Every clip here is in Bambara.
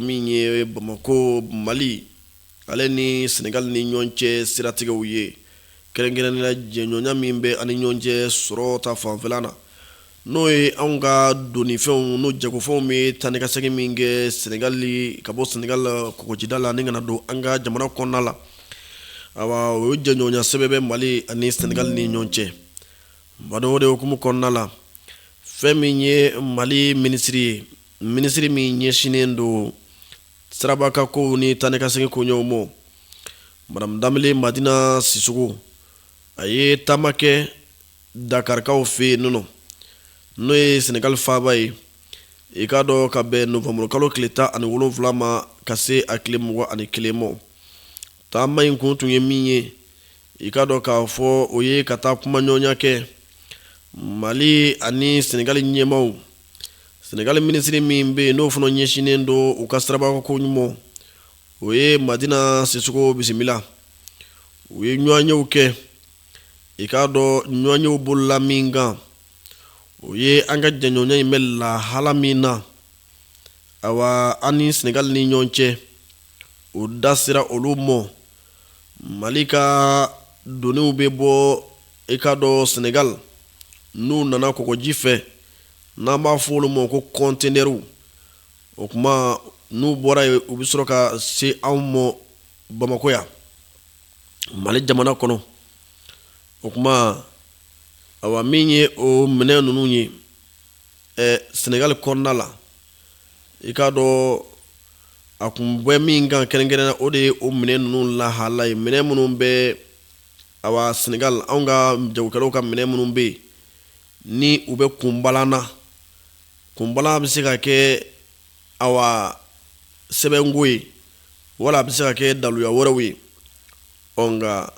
min ye bamakɔ mali ale ni sɛnɛgali ni ɲɔgɔn cɛ siratigɛw ye kɛrɛnkɛrɛnnenya jɛɲɔgɔnya min bɛ an ni ɲɔgɔn cɛ sɔrɔ ta fanfɛla na n'o ye anw ka donifɛnw n'o jagofɛnw bɛ taa ni ka segin min kɛ sɛnɛgali ka bɔ sɛnɛgali kɔgɔjida la ni ka na don an ka jamana kɔnɔna la awa o ye jɛɲɔgɔnya sɛbɛ bɛ mali ani sɛnɛgali ni ɲɔgɔn cɛ badaa o de hukumu kɔnɔna la fɛn min ye mali minisiri ye minisiri min ɲɛsinnen don sirabakan ko ni taa ni ka segin koɲɛw ma madamu danbele madina sisɔkɔ a ye taama kɛ dakarikaw fɛ yen nɔ n'o ye sɛnɛgali faaba ye i k'a dɔn ka bɛn nowanburukalo tile tan ani wolonwula ma ka se a tile mugan ani kelen ma Taama in kun tun ye min ye i k'a dɔn k'a fɔ o ye ka taa kumaɲɔgɔnya kɛ mali ani sɛnɛgali ɲɛmaaw sɛnɛgali minisiri min bɛ yen n'o fana ɲɛsinnen don u ka sirabakan koɲɛw ma o ye madina sisɔkɔ bisimila u ye ɲɔgɔnyew kɛ i k'a dɔn ɲɔgɔnyew bolola min kan o ye an ka jɛɲɔgɔnya in bɛ lahala min na awa an ni sɛnɛgali ni ɲɔgɔn cɛ o da sera olu ma mali ka doniw bɛ bɔ i k'a dɔn sɛnɛgali n'u nana kɔgɔji fɛ n'an b'a fɔ olu ma ko kɔntenɛriw o kuma n'u bɔra yen u bɛ sɔrɔ ka se anw ma bamakɔ yan mali jamana kɔnɔ o kuma awa min ye o minɛn ninnu ye sɛnɛgali kɔnɔna la i k'a dɔn a kun bɛ min kan kɛrɛnkɛrɛnnenya o de ye o minɛn ninnu lahala ye minɛn minnu bɛ awa sɛnɛgali anw ka jagokɛlaw ka minɛn minnu bɛ yen ni u bɛ kunbalan na kunbalan bɛ se ka kɛ awa sɛbɛnko ye wala a bɛ se ka kɛ daluya wɛrɛw ye ɔ nka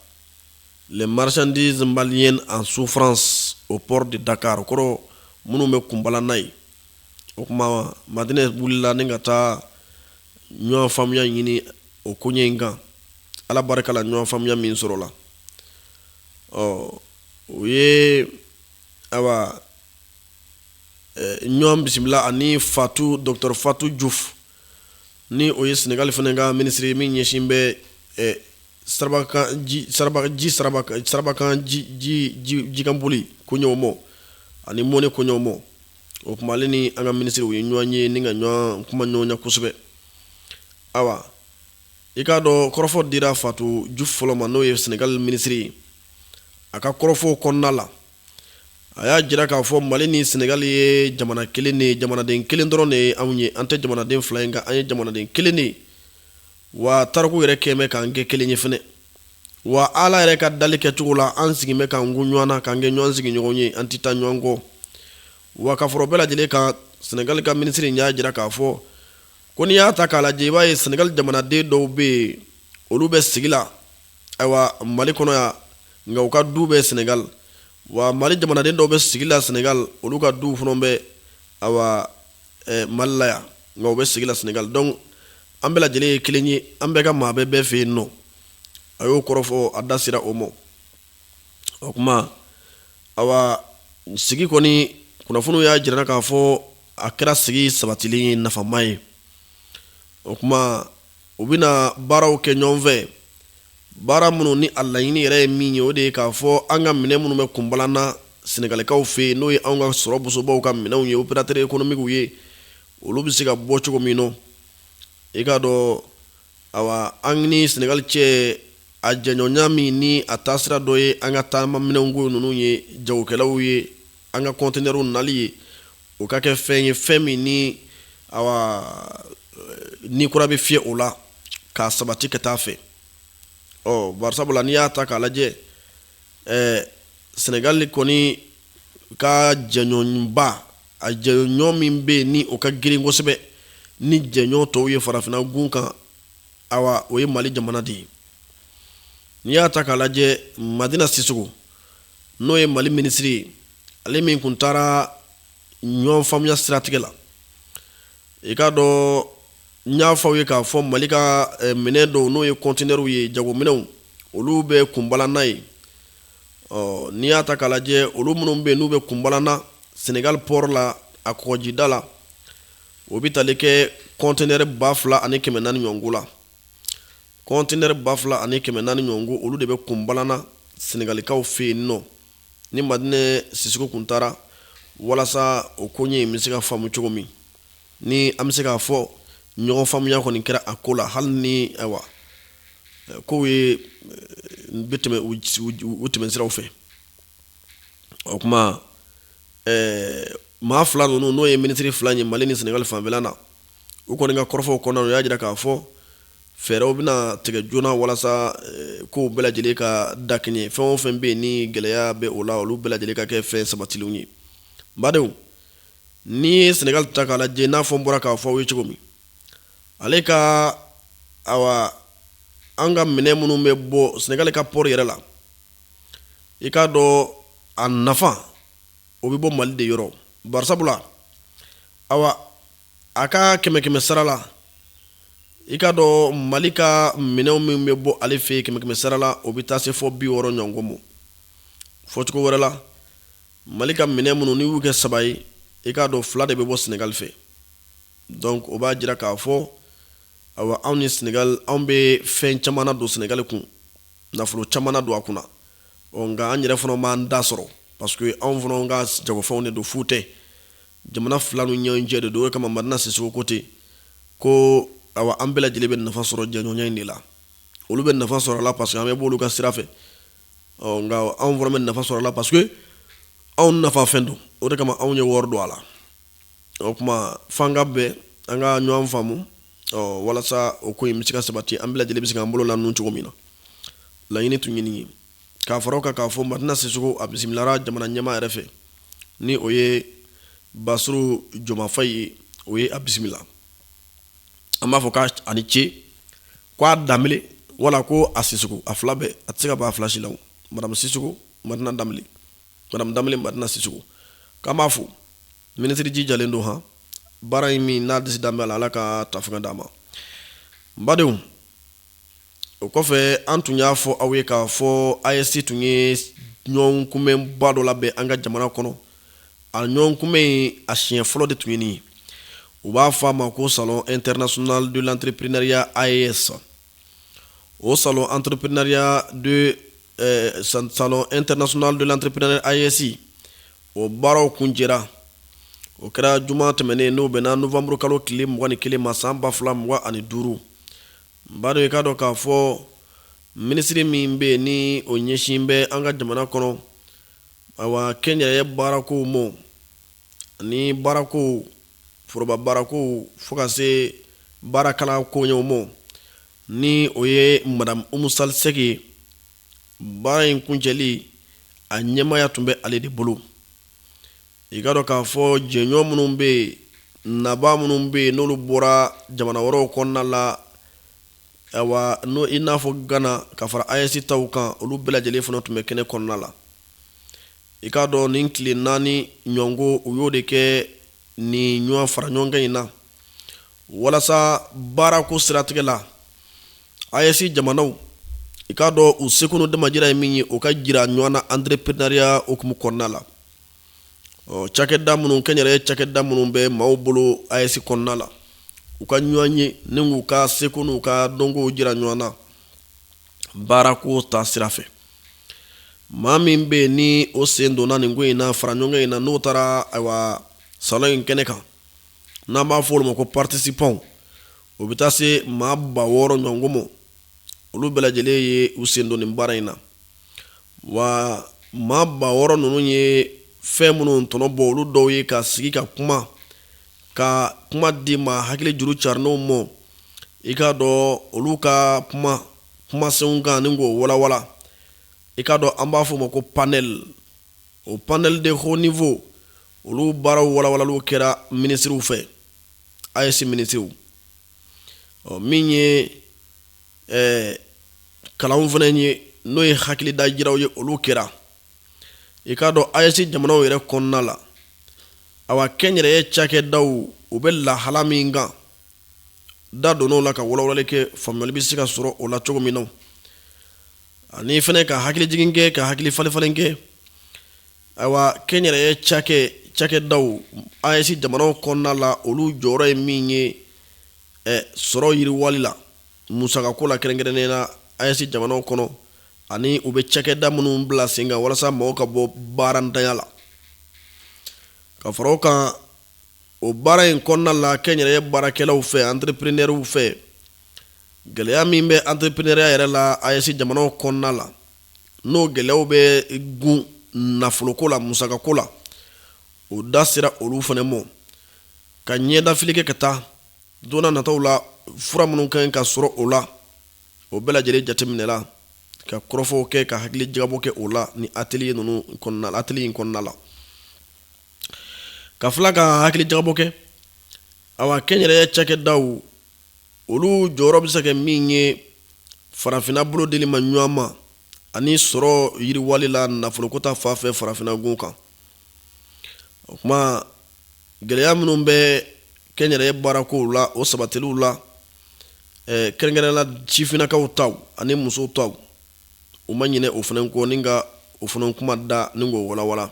les marchandises maliennes en souffrance au port de dakar kɔrɔ minnu bɛ kunbalan na ye o kuma madina wulila ni ka taa ɲɔgɔn faamuya ɲini o koɲɛ in kan ala barika la ɲɔgɔn faamuya min sɔrɔla ɔ u ye awa ɲɔgɔn bisimila ani fatu dɔkɔtɔrɔ fatu jufu ni o ye sɛnɛgali fana ka minisiri min ɲɛsin bɛ sirabakan jikanboli koɲɛw ma ani mɔnni koɲɛw ma o kuma ale ni an ka minisiri u ye ɲɔgɔn ye ni ka ɲɔgɔn kumaɲɔgɔnya kosɛbɛ awa i k'a dɔn kɔrɔfɔ dira fatu jufu fɔlɔ ma n'o ye sɛnɛgali minisiri ye a ka kɔrɔfɔ kɔnɔna la a y'a jira k'a fɔ mali ni sɛnɛgali ye jamana kelen de jamanaden kelen dɔrɔn de anw ye an tɛ jamanaden fila in kan an ye jamanaden kelen de wa tariku yɛrɛ kɛ bɛ k'an kɛ kelen ye fana wa ala yɛrɛ ka dali kɛcogo la an sigi bɛ k'an kun ɲɔgɔn na k'an kɛ ɲɔgɔn sigiɲɔgɔn ye an tɛ taa ɲɔgɔn kɔ wa ka fara o bɛɛ lajɛlen kan sɛnɛgali ka minisiri y'a jira k'a fɔ ko n'i y'a ta k'a lajɛ i b'a ye sɛnɛgali jamanaden dɔw bɛ yen olu bɛ sigi la ayiwa mali kɔnɔ yan nka u ka du bɛ sɛnɛgali wa mali jamanaden dɔw bɛ sigi la sɛnɛgali olu ka du fana bɛ ayiwa mali la yan nka u bɛ sigi la sɛnɛgali donc an bɛɛ lajɛlen ye kelen ye an bɛɛ ka maa bɛ bɛɛ fɛ yen nɔ a y'o kɔrɔfɔ a da sera o ma o tuma ayiwa sigi kɔni kunnafoniw y'a jira k'a fɔ a kɛra sigi sabatilen ye nafama ye o tuma u bɛna baaraw kɛ ɲɔgɔn fɛ baara minnu ni a laɲini yɛrɛ ye min ye o de ye k'a fɔ an ka minɛn minnu bɛ kunbalanna sɛnɛgalikaw fɛ yen n'o ye anw ka sɔrɔ bosobaw ka minɛnw ye operatɛri ekonomikiw ye olu bɛ se ka bɔ cogo min na i k'a dɔn Ayiwa an ni sɛnɛgali cɛ a jɛɲɔgɔnya min ni a taasira dɔ ye an ka taamaminɛnko ninnu ye jagokɛlaw ye an ka kɔntinɛriw nali ye o ka kɛ fɛn ye fɛn min ni ayiwa ni kura bɛ fiyɛ o la k'a sabati ka taa fɛ ɔ bari sabula n'i y'a ta k'a lajɛ sɛnɛgali kɔni ka jɛɲɔgɔnba a jɛɲɔgɔn min bɛ yen ni o ka girin kosɛbɛ ni jɛɲɔgɔn tɔw ye farafinna gun kan ayiwa o ye mali jamana de ye n'i y'a ta k'a lajɛ madina sisoko n'o ye mali minisiri ye ale min tun taara ɲɔgɔn faamuya siratigɛ la i k'a dɔn n y'a fɔ aw ye k'a fɔ mali ka eh, minɛn dɔw n'o ye kɔntinɛriw ye jagominɛnw olu bɛ kunbalanna yen ɔ n'i y'a ta k'a lajɛ olu minnu bɛ yen n'u bɛ kunbalanna senegali pɔri la a kɔgɔjida la o bɛ tali kɛ kɔntinɛri ba fila ani kɛmɛ naani ɲɔgɔnko la kɔntinɛri ba fila ani kɛmɛ naani ɲɔgɔnko olu de bɛ kunbalanna senegalikaw fɛ yen nɔ ni madina sisoko tun taara walasa o koɲɛ in bɛ se ka faamu cogo min ni an bɛ se k'a fɔ ɲɔgɔn faamuya kɔni kɛra a ko la hali ni ayiwa koɲɛw bɛ tɛmɛ u tɛmɛsiraw fɛ o tuma maa fila ninnu n'o ye minisiri fila ye mali ni sɛnɛgali fanfɛla na u kɔni ka kɔrɔfɔw kɔnɔna na u y'a jira k'a fɔ fɛɛrɛw bɛna tigɛ joona walasa kow bɛɛ lajɛlen ka dakɛɲɛ fɛn o fɛn bɛ yen ni gɛlɛya bɛ o la olu bɛɛ lajɛlen ka kɛ fɛn sabatilenw ye badenw n'i ye sɛnɛgali ta k'a lajɛ n'a fɔ n bɔra k'a fɔ aw ye cogo min ale ka awa an ka minɛn minnu bɛ bɔ sɛnɛgali ka pɔɔri yɛrɛ la i k'a dɔn a nafa o bɛ bɔ mali de yɔrɔ barisabula awa a ka kɛmɛ kɛmɛ sara la i k'a dɔn mali ka minɛn min bɛ bɔ ale fɛ yen kɛmɛ kɛmɛ sara la o bɛ taa se fo bi wɔɔrɔ ɲɔgɔnko ma fɔcogo wɛrɛ la Mali ka minɛn minnu n'i y'u kɛ saba ye i k'a dɔn fila de bɛ bɔ sɛnɛgali fɛ donc o b'a jira k'a fɔ awa anw ni sɛnɛgali anw bɛ fɛn caman don sɛnɛgali kun nafolo caman don a kunna ɔ nka an yɛrɛ fana b'an ta sɔrɔ parce que anw fana ka jagofɛnw de don fu tɛ jamana fila ni ɲɔgɔn cɛ de don o kama madina sisoko ko ten ko an bɛɛ lajɛlen bɛ nafa sɔrɔ jɛɲɔgɔnya in de la olu bɛ nafa sɔrɔ a la parce que an bɛ bɔ olu ka sira fɛ nka anw fana bɛ nafa sɔrɔ a la parce que anw nafa fɛn don o de kama anw ye wari don a la o tuma f'an ka bɛn an ka ɲɔgɔn faamu walasa o ko in bɛ se ka sabati an bɛɛ lajɛlen bɛ se k'an bolo la ninnu cogo min na laɲini tun ye nin ye k'a fara o kan k'a fɔ madina sisoko a bisimilara jamana ɲɛmaa yɛrɛ fɛ ni o ye basiru jomayi fayi ye o ye a bisimila an b'a fɔ k' ani ce k' a da wala ko a si a fila bɛɛ a tɛ se ka' a filasi la marasi ma da ma si k'an b'a fo minisiriji jalen don hɔn baara in min n'a di da la ala ka tafe d'a ma badenw o kɔfɛ an tun y'a fɔ aw ye k'a fɔ AES tun ye ɲɔgɔn kunbɛnba dɔ labɛn an ka jamana kɔnɔ a ɲɔgɔn kunbɛn in a siɲɛ fɔlɔ de tun ye nin ye u b'a fɔ a ma ko salon international de l'entrepreneuriat AES o salon entrepreneuriat salon international de l'entrepreneuriat AES o baaraw kuncɛra o kɛra juma tɛmɛnen n'o bɛnna nowanburu kalo tile mugan ni kelen ma san ba fila mugan ani duuru Badɔ i k'a dɔn k'a fɔ minisiri min bɛ yen ni o ɲɛsin bɛ an ka jamana kɔnɔ awa kɛnyɛrɛye baarakow ma ani baarakow foroba baarakow fo ka se baarakalan koɲɛw ma ni o ye madamu umu sali sɛki ye baara in kuncɛli a ɲɛmaya tun bɛ ale de bolo i k'a dɔn k'a fɔ jɛɲɔgɔn minnu bɛ yen nabaa minnu bɛ yen n'olu bɔra jamana wɛrɛw kɔnɔna la awa n'o i n'a fɔ gana ka fara AES taw kan olu bɛɛ lajɛlen fana tun bɛ kɛnɛ kɔnɔna la i k'a dɔn nin tile naani ɲɔngo u y'o de kɛ nin ɲɔgɔn fara ɲɔgɔn kan in na walasa baarako siratigɛ la AES jamanaw i k'a dɔn u seko n'u damajira ye min ye u k'a jira ɲɔgɔn na entrepreneuriat hukumu kɔnɔna la ɔ cakɛda minnu kɛnyɛrɛye cakɛda minnu bɛ maaw bolo AES kɔnɔna la u ka ɲɔgɔn ye ni k'u ka seko n'u ka dɔnko jira ɲɔgɔn na baarako ta sira fɛ maa min bɛ yen ni o sen donna nin ko in na fara ɲɔgɔn in na n'o taara ayiwa salon in kɛnɛ kan n'an b'a fɔ olu ma ko participants o bɛ taa se maa ba wɔɔrɔ ɲɔgɔn ma olu bɛɛ lajɛlen ye u sen don nin baara in na wa maa ba wɔɔrɔ ninnu ye fɛn minnu tɔnɔ bɔ olu dɔw ye ka sigi ka kuma ka kuma di maa hakili juru carinenw ma i k'a dɔn olu ka kuma kumasenw kan ni k'o walawala i k'a dɔn an b'a fɔ o ma ko panɛli o panɛli de haut niveau olu baaraw walawalaliw kɛra minisiriw fɛ AES minisiriw ɔ min ye ɛɛ kalanw fana ye n'o ye hakilida jiraw ye olu kɛra i k'a dɔn AES jamanaw yɛrɛ kɔnɔna la awa kɛnyɛrɛye cakɛdaw u bɛ lahala min kan da donna o la ka walawalali kɛ faamuyali bɛ se ka sɔrɔ o la cogo min na ani fana ka hakilijigin kɛ ka hakili falen kɛ ayiwa kɛnyɛrɛye cakɛ cakɛdaw AES jamanaw kɔnɔna la olu jɔyɔrɔ ye min ye sɔrɔ yiriwali la musakako la kɛrɛnkɛrɛnnen na AES jamanaw kɔnɔ ani u bɛ cakɛda minnu bila sen kan walasa mɔgɔw ka bɔ baarantanya la. Ka fara o kan, o baara in kɔnɔna la kɛnyɛrɛye baarakɛlaw fɛ, antereprenɛriw fɛ, gɛlɛya min bɛ antereprenɛriya yɛrɛ la AES jamanaw kɔnɔna la, n'o gɛlɛyaw bɛ gun nafoloko la, musakako la, o da sera olu fana ma ka ɲɛdafili kɛ ka taa don nataw la fura minnu kan ka sɔrɔ o la o bɛɛ lajɛlen jateminɛla ka kɔrɔfɔw kɛ ka hakili jagabɔ kɛ o la ni atelier ninnu kɔnɔna la atelier in kɔnɔna la ka fila ka hakili jagabɔ kɛ awa kɛnyɛrɛye cakɛdaw olu jɔyɔrɔ bɛ se ka kɛ min ye farafinna bolo deli ma ɲɔgɔn ma ani sɔrɔ yiriwali la nafoloko ta fan fɛ farafinna gun kan o kuma gɛlɛya minnu bɛ kɛnyɛrɛye baarakow la o sabatiliw la kɛrɛnkɛrɛnnen na sifinnakaw taw ani musow taw u ma ɲinɛ o fana kɔ ni ka o fana kuma da ni k'o walawala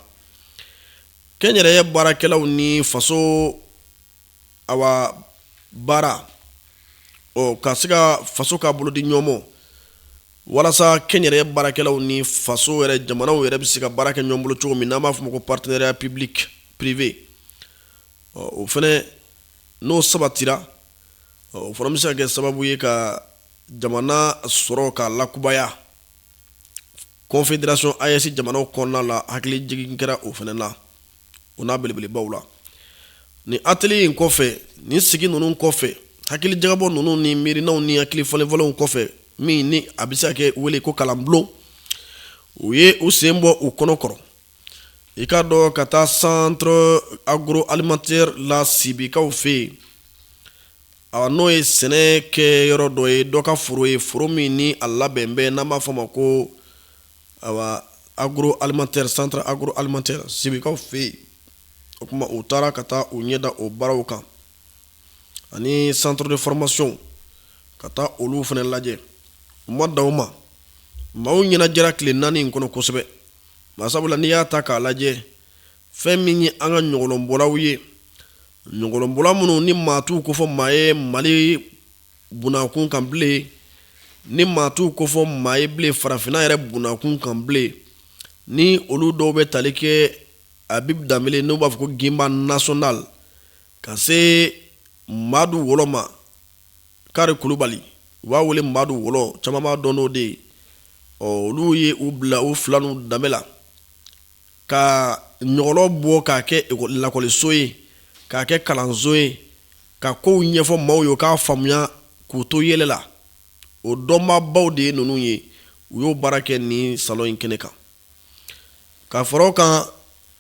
kɛnyɛrɛye baarakɛlaw ni faso awa baara o ka se ka faso ka bolo di ɲɔgɔn ma walasa kɛnyɛrɛye baarakɛlaw ni faso yɛrɛ jamanaw yɛrɛ bɛ se ka baara kɛ ɲɔgɔn bolo cogo min n'a b'a fɔ ma ko partenariat public privé o fana n'o sabatira o fana bɛ se ka kɛ sababu ye ka jamana sɔrɔ ka lakubaya confédération AES jamanaw kɔnɔna la hakili jigin kɛra o fana na. o n'a belebelebaw la ni atelier in kɔfɛ ni sigi ninnu kɔfɛ hakili jagabɔ ninnu ni miirinaw ni hakili falenfalenw kɔfɛ min ni a bɛ se ka wele ko kalanbulon u ye u sen bɔ u kɔnɔ kɔrɔ i k'a dɔn ka taa centre agroalimentaire la sibikaw fɛ yen a n'o ye sɛnɛ kɛ yɔrɔ dɔ ye dɔ ka foro ye foro min ni a labɛn bɛ n'a b'a fɔ ma ko ayiwa agroalimentaire centre agroalimentaire sibikaw fɛ yen o kuma u taara ka taa u ɲɛ da o baaraw kan ani centre de formation ka taa olu fana lajɛ u ma dan o ma maaw ɲɛnajɛra tile naani in kɔnɔ kosɛbɛ masabula n'i y'a ta k'a lajɛ fɛn min ye an ka ɲɔgɔlɔnbɔlaw ye ɲɔgɔlɔnbɔla minnu ni maa t'u kofɔ maa ye mali bunakun kan bilen ni maa t'u kofɔ maa ye bilen farafinna yɛrɛ bunakun kan bilen ni olu dɔw bɛ tali kɛ habib danbele n'u b'a fɔ ko ginba national ka se madu wɔlɔ ma kari kulubali u b'a wele madu wɔlɔ caman b'a dɔn n'o de ye ɔ olu ye u bila u fila n'u danbe la ka ɲɔgɔlɔn bɔ k'a kɛ lakɔliso ye k'a kɛ kalanso ye ka kow ɲɛfɔ maaw ye u k'a faamuya k'u to yɛlɛ la o dɔnbaabaw de ye ninnu ye u y'o baara kɛ ni salon in kɛnɛ kan ka fara o kan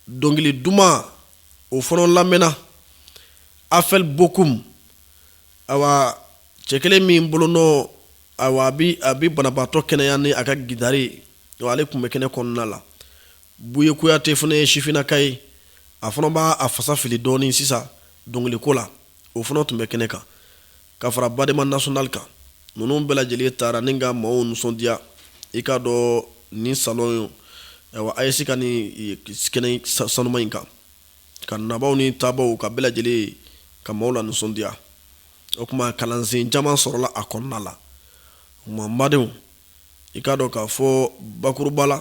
dɔnkili duman o fana lamɛnna afɛli bokum ayiwa cɛ kelen min bolonɔ ayiwa a bɛ banabaatɔ kɛnɛya ni a ka gitari ale tun bɛ kɛnɛ kɔnɔna la buye kuyate fana ye sifinnaka ye a fana b'a a fasa fili dɔɔnin sisan dɔnkiliko la o fana tun bɛ kɛnɛ kan ka fara badema national kan ninnu bɛɛ lajɛlen taara ni ka maaw nisɔndiya i k'a dɔn ni salon ayiwa AES ka nin kɛnɛ sanuma in kan ka nabaaw ni taabaaw ka bɛɛ lajɛlen ka maaw lanisɔndiya o kuma kalansen caman sɔrɔla a kɔnɔna la n badenw i k'a dɔn k'a fɔ bakuruba la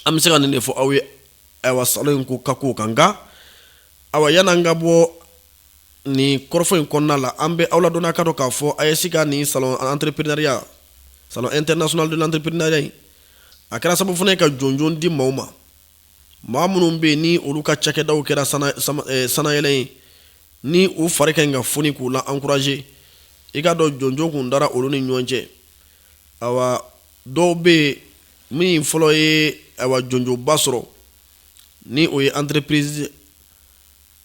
an bɛ se ka nin de fɔ aw ye ayiwa salon in ko ka kow kan nka yann'an ka bɔ nin kɔrɔfɔ in kɔnɔna la an bɛ aw ladɔnniya k'a dɔn k'a fɔ AES ka nin salon entrepreneuriat salon international de l'entrepreneuriat in a kɛra sababu fana ye ka jɔnjɔn di maaw ma maa minnu bɛ yen ni olu ka cakɛdaw kɛra sanayɛlɛ ye ni u fari ka ɲi ka foni k'u la encourager i k'a dɔn jɔnjɔn kun dara olu ni ɲɔgɔn cɛ ayiwa dɔw bɛ yen min fɔlɔ ye jɔnjɔnba sɔrɔ ni o ye entreprise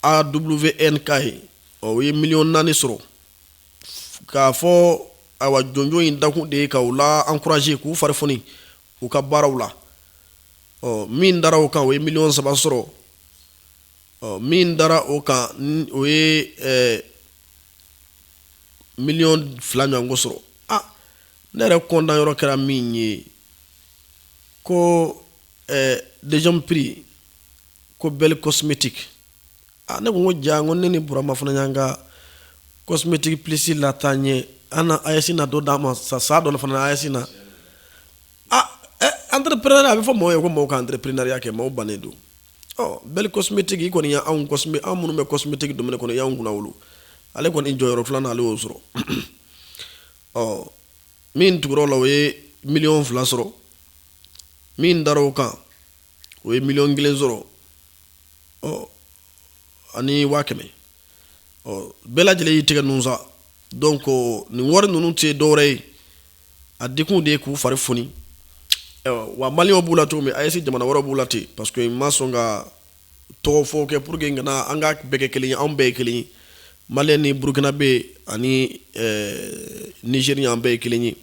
AWNK ye o ye miliyɔn naani sɔrɔ k'a fɔ a jɔnjɔn in dakun de ye ka u la encourager k'u fari u ka baaraw la ɔ min dara o kan o ye miliyɔn saba sɔrɔ ɔ min dara o kan o ye miliyɔn fila ɲɔgɔn sɔrɔ a ne yɛrɛ kɔntan yɔrɔ kɛra min ye ko deuxième prix ko belle cosmétique A ne ko ko jaa ko ne ni burama fana y'an ka cosmétique psi la tan ye an AES na dɔ d'an ma sa sa dɔ fana AES na aa entrepreneur a bɛ fɔ maaw ye ko maaw ka entrepreneuriat kɛ maaw bannen don ɔ belle cosmétique kɔni y' anw anw minnu bɛ cosmétique domaine kɔnɔ y'an kunnawolo ale kɔni jɔyɔrɔ filanan ale y'o sɔrɔ ɔ min tugura o la o ye miliyɔn fila sɔrɔ min dara o kan o ye miliyɔn kelen sɔrɔ ɔ ani waa kɛmɛ ɔ bɛɛ lajɛlen y'i tɛgɛ ninnu sa donc nin wari ninnu tɛ dɔwɛrɛ ye a dikun de ye k'u fari foni wa mali b'u la cogo min AES jamana wɛrɛ b'u la ten parce que ma sɔn ka tɔgɔ fɔ kɛ pour que n kana an ka bɛɛ kɛ kelen anw bɛɛ ye kelen mali ni burukinabɛ ani nigérien an bɛɛ ye kelen ye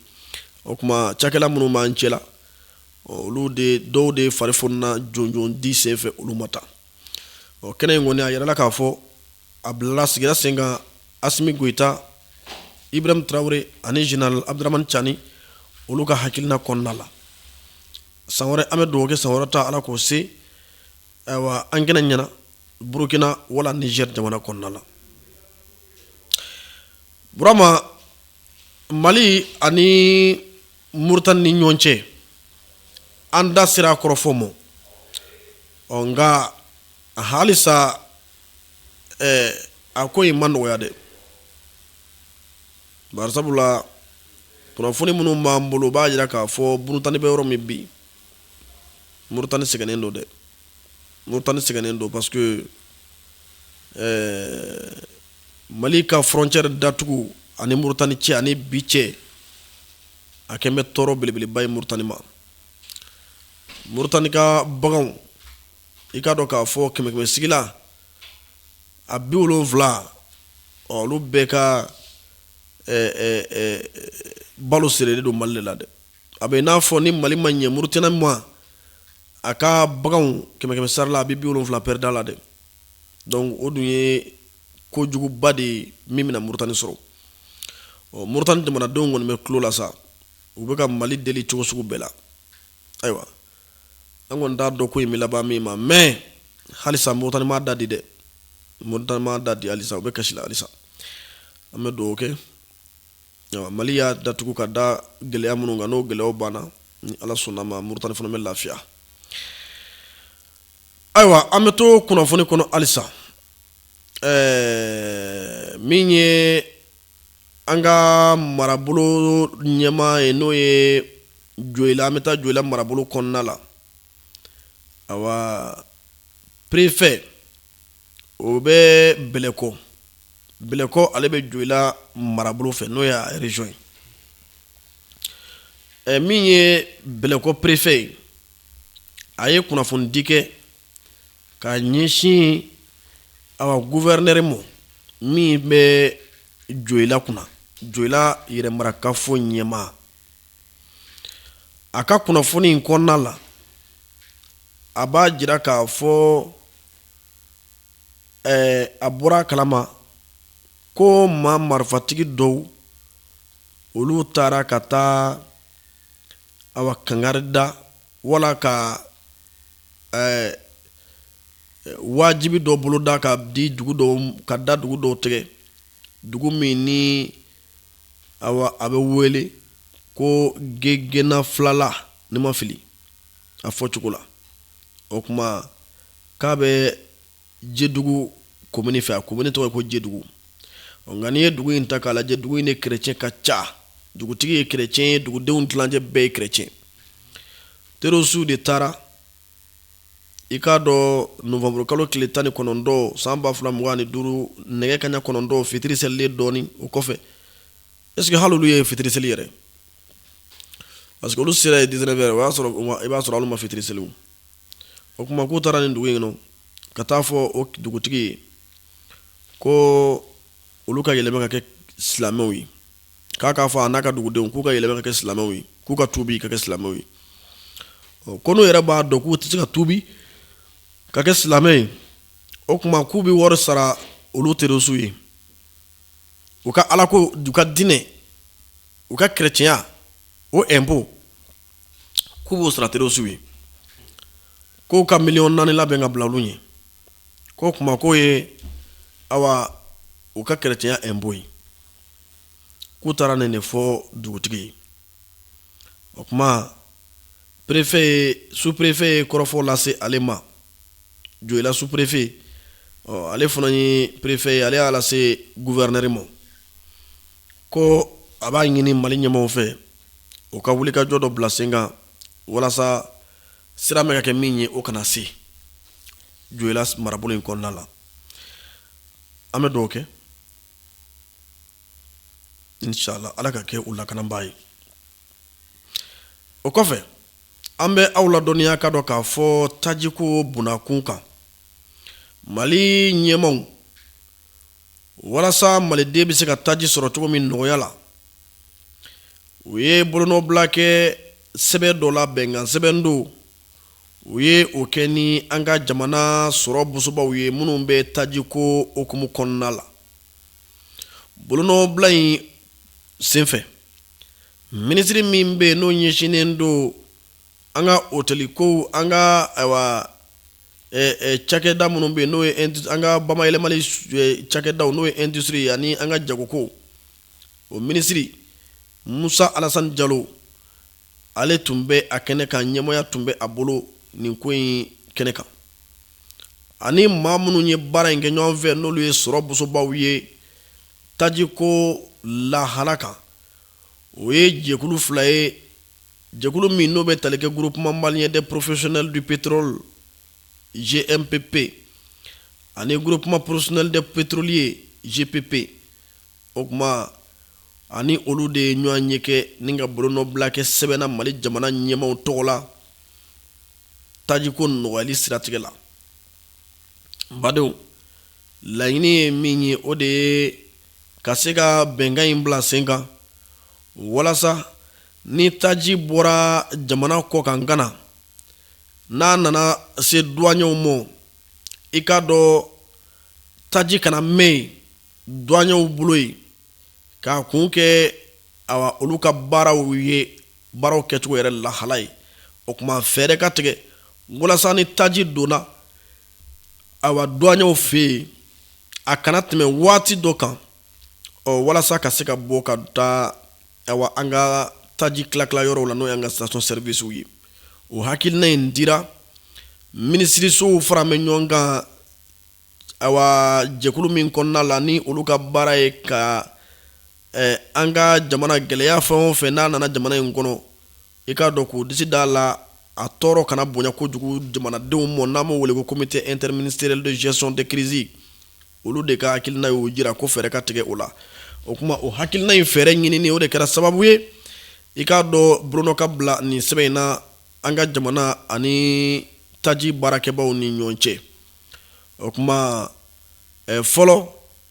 o tuma cakɛla minnu b'an cɛ la ɔ olu de dɔw de fari fonina jɔnjɔn di senfɛ olu ma tan ɔ kɛnɛ in kɔni a yirala k'a fɔ a bilala sigira sen kan asimi goyita ibrahim tarawele ani général abdramani cani olu ka hakilina kɔnɔna la san wɛrɛ an bɛ dugawu kɛ san wɛrɛ ta ala k'o se ayiwa an kɛnɛ ɲɛna burukina wala niger jamana kɔnɔna la burama mali ani moritani ni ɲɔgɔn cɛ an da sera a kɔrɔfɔ ma ɔ nka halisa a ko in ma nɔgɔya dɛ bari sabula kunnafoni minnu b'an bolo b'a jira k'a fɔ moritani bɛ yɔrɔ min bi moritani sɛgɛnnen don dɛ moritani sɛgɛnnen don parce que Mali ka frontière datugu a ni moritani cɛ ani bi cɛ a kɛlen bɛ tɔɔrɔ belebeleba ye moritani ma moritani ka bagan i k'a dɔn k'a fɔ kɛmɛsigila a bi wolonwula olu bɛɛ ka balo sirilen don mali la dɛ a bɛ n'a fɔ ni mali ma ɲɛ murutani ma a ka baganw kɛmɛkɛmɛ sara la a bɛ bi wolonwula pɛrida la dɛ donc o dun ye kojuguba de ye min bɛna murutani sɔrɔ ɔ murutani jamanadenw kɔni bɛ kulo la sa u bɛ ka mali deli cogo sugu bɛɛ la ayiwa an kɔni t'a dɔn ko in bɛ laban min ma mais halisa murutani m'a da di dɛ murutani m'a da di halisa u bɛ kasi la halisa an bɛ dugawu kɛ Mali y'a datugu ka da gɛlɛya minnu kan n'o gɛlɛya banna ni ala sɔnna ma murutani fana bɛ lafiya ayiwa an bɛ to kunnafoni kɔnɔ halisa ɛɛ min ye an ka marabolo ɲɛma ye n'o ye joyila an bɛ taa joyila marabolo kɔnɔna la ayiwa perefɛ o bɛ bɛlɛko bɛlɛko ale bɛ joyila marabolo fɛ n'o y'a région ye ɛ min ye bɛlɛko perefɛ ye a ye kunnafoni di kɛ ka ɲɛsin awa gouverneur ma min bɛ joyila kunna joyila yɛrɛ marakafo ɲɛmaa a ka kunnafoni in kɔnɔna la a b'a jira k'a fɔ a bɔra a kalama ko maa marifatigi dɔw olu taara ka taa awa kangari da wala ka wajibi dɔ boloda ka di dugu dɔ ka da dugu dɔ tigɛ dugu min ni awa a bɛ wele ko gena filala ni n ma fili a fɔ cogo la o tuma k'a bɛ jɛdugu komini fɛ a komini tɔgɔ ko jɛdugu nka n'i ye dugu in ta k'a lajɛ dugu in na kerecɛn ka ca dugutigi ye kerecɛn ye dugudenw tilancɛ bɛɛ ye kerecɛn terorisiw de taara i k'a dɔn nowanburukalo tile tan ni kɔnɔntɔn san ba fila mugan ni duuru nɛgɛ kaɲa kɔnɔntɔn fitiri seli dɔɔnin o kɔfɛ est-ce que hali olu ye fitiri seli yɛrɛ parce que olu sera yen dix-neuf heures o y'a sɔrɔ i b'a sɔrɔ olu ma fitiri seli o kuma k'u taara nin dugu in kɔnɔ ka taa fɔ o dugutigi ye ko olu ka yɛlɛma ka kɛ silamɛw ye k'a k'a fɔ a n'a ka dugudenw k'u ka yɛlɛma ka kɛ silamɛw ye k'u ka tubi ka kɛ silamɛw ye ko n'u yɛrɛ b'a dɔn k'u tɛ se ka tubi ka kɛ silamɛ ye o tuma k'u bɛ wari sara olu terorisiw ye u ka alako u ka diinɛ u ka keretiyɛnya o ɛnpo k'u b'o sara terorisiw ye k'u ka miliyɔn naani labɛn ka bila olu ye k'o kuma k'o ye awa u ka keretiyɛnya ɛnpo ye k'u taara nin de fɔ dugutigi ye o kuma perefe ye superefe ye kɔrɔfɔ lase ale ma joyila superefe ale fana ye perefe ye ale y'a lase guwɛrinɛri ma ko a b'a ɲini mali ɲɛmaw fɛ u ka wulikajɔ dɔ bila sen kan walasa siran bɛ ka kɛ min ye o kana se joyila marabolo in kɔnɔna la an bɛ dugawu kɛ inshallah ala ka kɛ u lakanabaa ye o kɔfɛ an bɛ aw ladɔnniya ka dɔn k'a fɔ tajiko bunakun kan mali ɲɛmaw walasa maliden bɛ se ka taji sɔrɔ cogo min nɔgɔya la u ye bolonɔbila kɛ sɛbɛn dɔ la bɛnkan sɛbɛn don u ye o kɛ ni an ka jamana sɔrɔ bosobaw ye minnu bɛ tajiko hukumu kɔnɔna la bolonɔbila in senfɛ minisiri min bɛ yen n'o ɲɛsinnen don an ka otɛli ko an ka cakɛda minnu bɛ yen n'o an ka bamayɛlɛmali cakɛda n'o ye industrie ye ani an ka jago ko o minisiri musa alasani jalo ale tun bɛ a kɛnɛ kan ɲɛmɔgɔya tun bɛ a bolo nin ko in kɛnɛ kan ani maa minnu ye baara in kɛ ɲɔgɔn fɛ n'olu ye sɔrɔ bosobaw ye tajiko lahala kan o ye jɛkulu fila ye jɛkulu min n'o bɛ tali kɛ groupement malien des professionnels du pétrole gmpp ani groupement professionnel des pétroliers gpp o kuma ani olu de ye ɲɔgɔnye kɛ ni ka bolonɔbila kɛ sɛbɛn na mali jamana ɲɛmaw tɔgɔ la tajiko nɔgɔyali siratigɛ la badenw laɲini ye min ye o de ye ka se ka bɛnkan in bila sen kan walasa ni taji bɔra jamana kɔkan ka na n'a nana se duwanyew ma i k'a dɔn taji kana mɛɛn yen duwanyew bolo yen k'a kun kɛ awa olu ka baaraw ye baaraw kɛcogo yɛrɛ lahala ye o kuma fɛɛrɛ ka tigɛ walasa ni taji donna awa douaniers fɛ yen a kana tɛmɛ waati dɔ kan walasa ka se ka bɔ ka taa awa an ka taji tilatila yɔrɔw la n'o y'an ka station servicew ye o hakilina in dira minisirisow fara bɛ ɲɔgɔn kan awa jɛkulu min kɔnɔna la ni olu ka baara ye ka Ɛɛ an ka jamana gɛlɛya fɛn o fɛ n'a nana jamana in kɔnɔ i k'a dɔn k'u disi d'a la a tɔɔrɔ kana bonya kojugu jamanadenw ma n'an b'o wele ko comité interministériel de gestion de crise olu de ka hakilina y'o jira ko fɛɛrɛ ka tigɛ o la o kuma o hakilina in fɛɛrɛ ɲinini o de kɛra sababu ye i k'a dɔn bolonɔ ka bila nin sɛbɛn in na an ka jamana ani taji baarakɛbaaw ni ɲɔgɔn cɛ o kuma fɔlɔ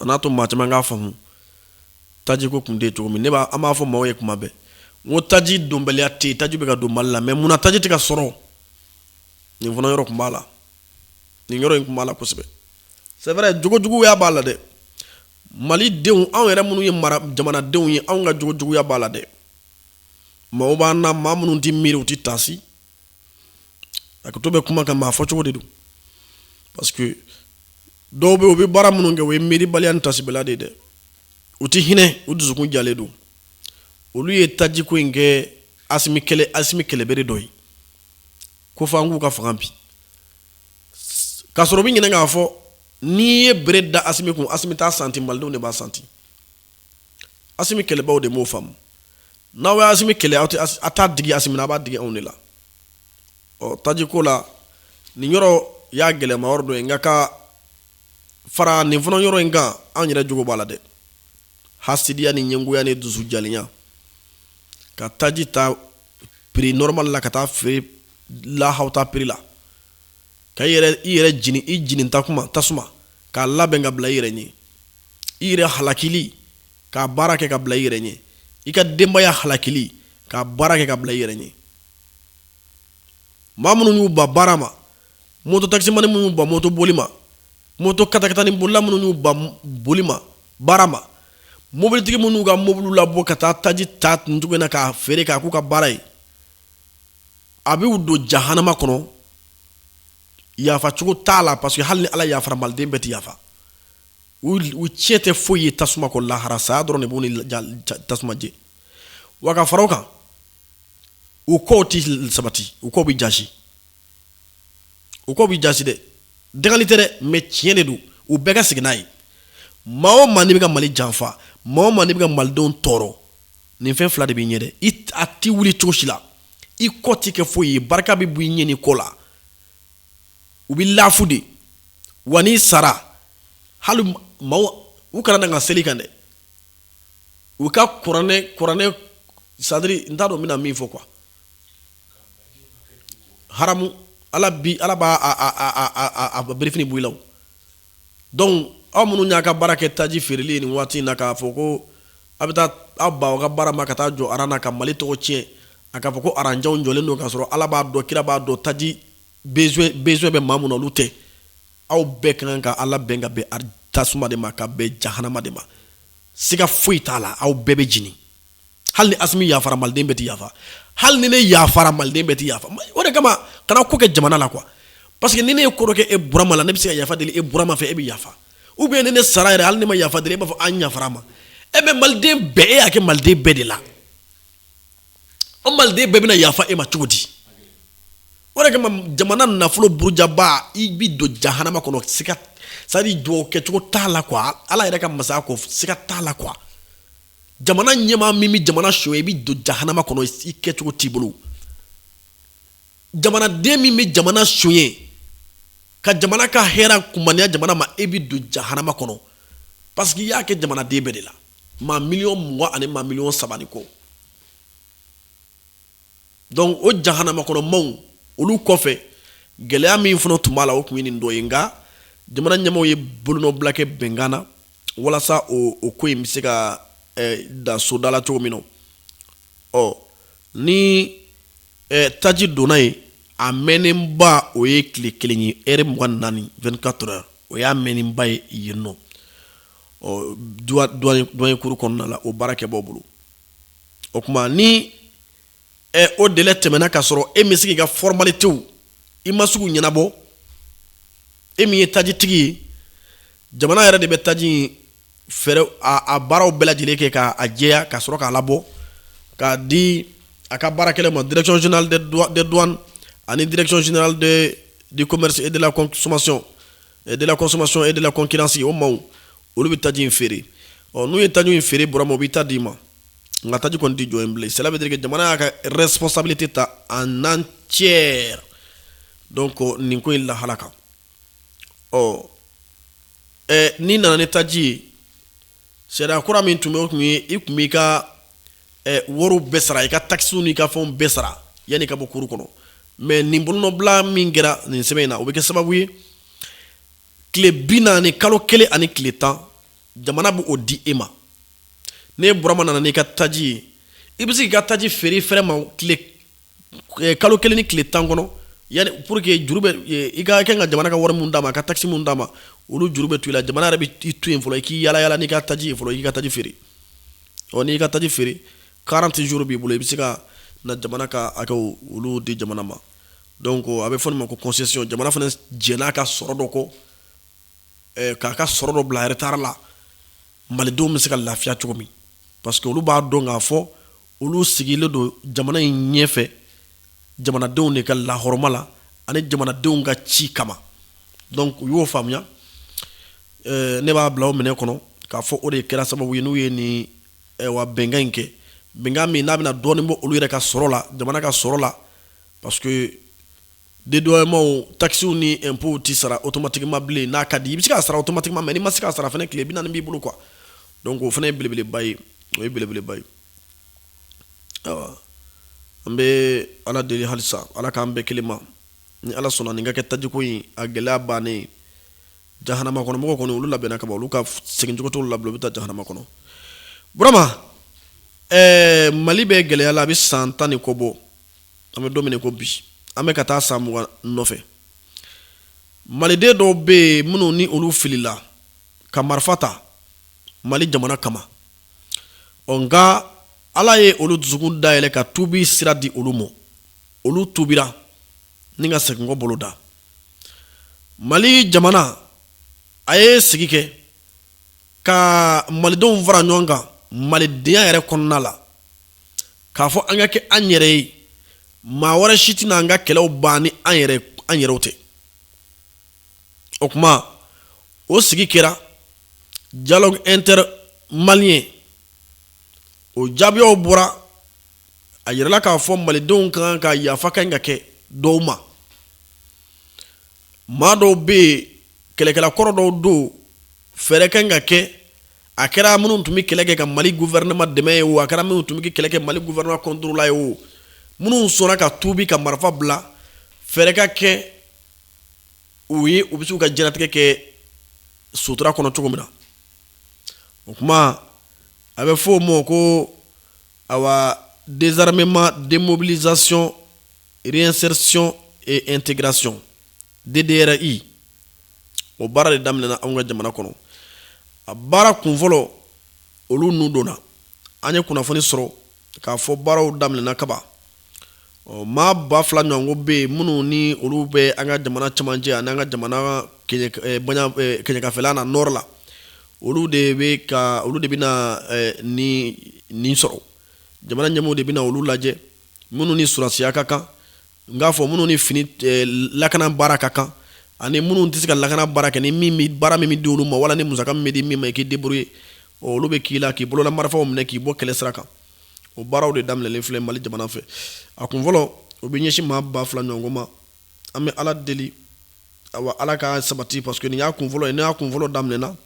a n'a to maa caman k'a faamu taji ko tun tɛ cogo min ne b'a an b'a fɔ maaw ye kuma bɛɛ n ko taji donbaliya tɛ taji bɛ ka don mali la mais munna taji tɛ ka sɔrɔ nin fana yɔrɔ tun b'a la nin yɔrɔ in tun b'a la kosɛbɛ c'est vrai jogojuguya b'a la dɛ malidenw anw yɛrɛ minnu ye mali jamanadenw ye anw ka jogojuguya b'a la dɛ maa b'an na maa minnu tɛ miiri u tɛ taasi hakɛto bɛ kuma kan maa fɔcogo de don parce que dɔw bɛ u bɛ baara minnu kɛ o ye miiribaliya taasibaliya de ye dɛ u tɛ hinɛ u dusukun jalen don olu ye tajiko in kɛ Asimi kɛlɛbere dɔ ye ko fɔ an k'u ka fanga bin ka sɔrɔ u bɛ ɲinɛ k'a fɔ n'i ye bere da Asimi kun Asimi t'a santi malidenw de b'a santi Asimi kɛlɛbaw de m'o faamu n'aw ye Asimi kɛlɛ aw tɛ Asi a t'a digi Asimi na a b'a digi anw de la ɔ taji ko la nin yɔrɔ y'a gɛlɛman yɔrɔ dɔ ye nka ka fara nin fana yɔrɔ in kan anw yɛrɛ jogo b'a la dɛ hasidiya ni ɲɛngoya ni dusu jalenya ka taji ta prix normal la ka taa feere lahawuta prix la ka i yɛrɛ jeni i jeni tasuma tasuma k'a labɛn ka bila i yɛrɛ ɲɛ i yɛrɛ halakili k'a baara kɛ ka bila i yɛrɛ ɲɛ i ka denbaya halakili k'a baara kɛ ka bila i yɛrɛ ɲɛ maa minnu y'u ban baara ma moto takisimani minnu y'u ban moto boli ma moto katakatani bolila minnu y'u ban boli ma baara ma mobilitigi minnu y'u ka mobili labɔ ka taa taji ta nin cogo na k'a feere k'a k'u ka baara ye a b'u don jahanama kɔnɔ yafacogo t'a la parce que hali ni ala yafara maliden bɛɛ tɛ yafa u tiɲɛ tɛ foyi ye tasuma kɔ lahara saya dɔrɔn de b'u ni tasuma cɛ wa ka fara o kan u kow tɛ sabati u kow bɛ ja u kow bɛ jaasi dɛ dangali tɛ dɛ mais tiɲɛ de don u bɛɛ ka segin n'a ye maa o maa n'i bɛ ka mali janfa maa o maa n'i bɛ ka malidenw tɔɔrɔ nin fɛn fila de b'i ɲɛ dɛ a tɛ wuli cogo si la i kɔ tɛ kɛ foyi ye barika bɛ bɔ i ɲɛ n'i kɔ la u bɛ lafu de wa n'i sara hali maaw u kana na ka seli i kan dɛ u ka kuranɛ kuranɛ c'est-à-dire n t'a dɔn n bɛna min fɔ quoi haramu ala bi ala b'a a birifini bɔ i la donc aw minnu y'a ka baara kɛ taji feereli nin waati in na k'a fɔ ko a bɛ taa aw ba aw ka baara ma ka taa jɔ aran na ka mali tɔgɔ tiɲɛ a k'a fɔ ko aranjanw jɔlen don k'a sɔrɔ ala b'a dɔn kira b'a dɔn taji besoin bɛ maa min na olu tɛ aw bɛɛ ka kan ka ala bɛn ka bɛn tasuma de ma ka bɛn jahanama de ma siga foyi t'a la aw bɛɛ bɛ jeni hali ni asimi yafara maliden bɛɛ tɛ yafa hali ni ne yafara maliden bɛɛ tɛ yafa o de kama kana ko kɛ jamana la quoi parce que ni ne ye ko dɔ kɛ e burama la ne bɛ se ka yafa deli e burama fɛ e bɛ yafa ou bien ni ne sara yɛrɛ hali ne ma yafa deli e b'a fɔ an yafar'a ma mais maliden bɛɛ e y'a kɛ maliden bɛɛ de la o maliden bɛɛ bɛna yafa e ma cogo di o de kama jamana nafolo burujaba i bɛ don jahanama kɔnɔ siga c'est-à-dire dugawu kɛcogo t'a la quoi ala yɛrɛ ka masaya kɔ siga t'a la quoi jamana ɲɛmaa min bɛ jamana sonyɛ i bɛ don jahanama kɔnɔ i kɛcogo t'i bolo jamanaden min bɛ jamana sonyɛ ka jamana ka hɛrɛ kumaniya jamana ma e bɛ don jahanama kɔnɔ parce que i y'a kɛ jamanaden bɛɛ de la maa miliyɔn mugan ani maa miliyɔn saba ni kɔ donc o jahanama kɔnɔ maaw olu kɔfɛ gɛlɛya min fana tun b'a la o tun ye nin dɔ ye nka jamana ɲɛmaaw ye bolonɔbila kɛ bɛnkan na walasa o ko in bɛ se ka da soda la cogo min na ɔ ni taji donna yen a mɛnnenba o ye tile kelen ye heure mugan ni naani vingt-quatre heures o y'a mɛnnenba ye yen nɔ ɔ douane kuru kɔnɔna la o baarakɛbaaw bolo o tuma ni o de tɛmɛna ka sɔrɔ e bɛ sigi i ka foroɔrɔma te i ma sugu ɲɛnabɔ e min ye tajitigi ye jamana yɛrɛ de bɛ taji fɛɛrɛ a baaraw bɛɛ lajɛlen kɛ k'a jɛya ka sɔrɔ k'a la bɔ k'a di a ka baara kelen ma drecɔnina ani drecɔnina de dela somasɔn e dela kɔsɔn e dela kɔnkinansi o ma olu bɛ taji in feere ɔ n'u ye taji in feere burama u b'i ta d'i ma nka taji kɔni tɛ jɔ yen bilen cela veut dire que jamana y'a ka responsabilité ta en entier donc nin ko in lahala kan ɔ ɛ n'i nana ni taji ye sariya kura min tun bɛ o tun ye i tun b'i ka wariw bɛɛ sara i ka takisiw n'i ka fɛnw bɛɛ sara yanni i ka bɔ kuru kɔnɔ mais nin bolonɔbila min kɛra nin sɛbɛn in na o bɛ kɛ sababu ye tile bi naani kalo kelen ani tile tan jamana bɛ o di e ma ne burama nana n'i ka taji ye i bɛ se k'i ka taji feere fɛrɛ ma tile eh, kalo kelen ni tile tan kɔnɔ yani pour que juru bɛ eh, i ka kan ka jamana ka wari mun d'a ma a ka taxe mun d'a ma olu juru bɛ to i la jamana yɛrɛ bɛ i to yen fɔlɔ i k'i yala yala n'i ka taji ye fɔlɔ i k'i ka taji feere ɔ n'i ka taji feere 40 jours b'i bolo i bɛ se ka na jamana ka hakɛw olu di jamana ma donc a bɛ fɔ nin ma ko concession jamana fana jɛn'a ka sɔrɔ dɔ kɔ eh, k'a ka sɔrɔ dɔ bila retard la malidenw bɛ se ka lafiya cogo min parce que olu b'a dɔn k'a fɔ olu sigilen don jamana in ɲɛfɛ jamanadenw de ka lahɔrɔma la ani jamanadenw ka ci kama donc u y'o faamuya eh, ne b'a bila o minɛ kɔnɔ k'a fɔ o de kɛra sababu ye n'u ye nin eh, wa bɛnkan in kɛ bɛnkan min n'a bɛna dɔɔnin bɔ olu yɛrɛ ka sɔrɔ la jamana ka sɔrɔ la parce que dédouanements taxes ni impôts tɛ sara automatiquement bilen n'a ka di i bɛ se k'a sara automatiquement mais n'i ma se k'a sara fana tile bi naani b'i bolo quoi donc o fana ye belebeleba ye o ye belebeleba ye awa an bɛ ala deli halisa ala k'an bɛɛ kelen ma ni ala sɔnna nin ka kɛ tajiko in a gɛlɛya bannen jahanama kɔnɔ mɔgɔw kɔni olu labɛnna kaban olu ka segincogo t'olu la u bɛ taa jahanama kɔnɔ burama mali bɛ gɛlɛya la a bɛ san tan ni kɔ bɔ an bɛ don min ko bi an bɛ ka taa san mugan nɔfɛ maliden dɔw bɛ yen minnu ni olu filila ka marifa ta mali jamana kama ɔ nka ala ye olu dusukun dayɛlɛ ka tubi sira di olu ma olu tubira ni ka seginkɔ bolo da mali jamana a ye sigi kɛ ka malidenw fara ɲɔgɔn kan malidenya yɛrɛ kɔnɔna la k'a fɔ an ka kɛ an yɛrɛ ye maa wɛrɛ si tɛna an ka kɛlɛw ban ni an yɛrɛ an yɛrɛw tɛ o kuma o sigi kɛra dialogue inter-malien o jaabiyaw bɔra a yirala k'a fɔ malidenw kan ka yafa kan ka kɛ dɔw ma maa dɔw bɛ yen kɛlɛkɛla kɔrɔ dɔw don fɛɛrɛ kan ka kɛ a kɛra minnu tun bɛ kɛlɛ kɛ ka mali gouvernement dɛmɛ ye o a kɛra minnu tun bɛ kɛlɛ kɛ mali gouvernement contre la ye o minnu sɔnna ka tubi ka marifa bila fɛɛrɛ ka kɛ u ye u bɛ se k'u ka diɲɛlatigɛ kɛ sutura kɔnɔ cogo min na o kuma a bɛ fɔ o ma ko Awa désarmement démobilisation réinsertion et intégration DDRI o baara de daminɛna anw ka jamana kɔnɔ a baara kunfɔlɔ olu ninnu donna an ye kunnafoni sɔrɔ k'a fɔ baaraw daminɛna kaban Ɔ maa ba fila ɲɔgɔnko bɛ yen minnu ni olu bɛ an ka jamana cɛmancɛ ani an ka jamana kɛɲɛkafɛla na nɔrɔ la olu de bɛ ka olu de bɛ nin sɔrɔ jamana ɲɛmaaw de bɛ olu lajɛ minnu ni surasiya ka kan n k'a fɔ minnu ni fini lakana baara ka kan ani minnu tɛ se ka lakana baara kɛ ni baara min bɛ di olu ma wala ni musaka min bɛ di min ma i k'i débrouiller olu bɛ k'i la k'i bolola marifaw minɛ k'i bɔ kɛlɛ sira kan o baaraw de daminɛlen filɛ mali jamana fɛ a kun fɔlɔ o bɛ ɲɛsin maa ba fila ɲɔgɔn ma an bɛ ala deli awa ala k'a sabati parce que nin y'a kun fɔlɔ ye n'a y'a kun fɔlɔ daminɛna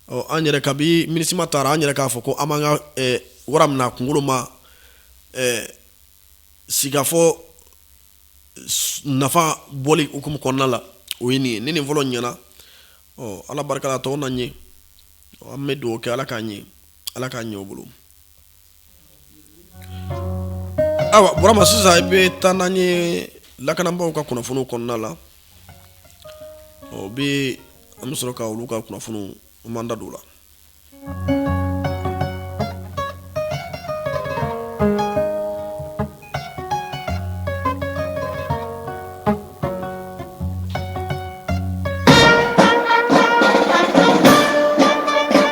ɔ an yɛrɛ kabi minusima taara an yɛrɛ k'a fɔ ko an b'an ka eh, wara minɛ a kunkolo ma eh, sigikafɔ nafa bɔli hukumu kɔnɔna la o ye nin ye ni nin fɔlɔ ɲɛna ɔ ala barika la tɔw na ɲɛ an bɛ dugawu kɛ ala k'a ɲɛ ala k'a ɲɛ o bolo ayiwa burama sisan i bɛ taa n'an ye lakanabaaw ka kunnafoni kɔnɔna la bɛ an bɛ sɔrɔ ka olu ka kunnafoni an b'an da don o la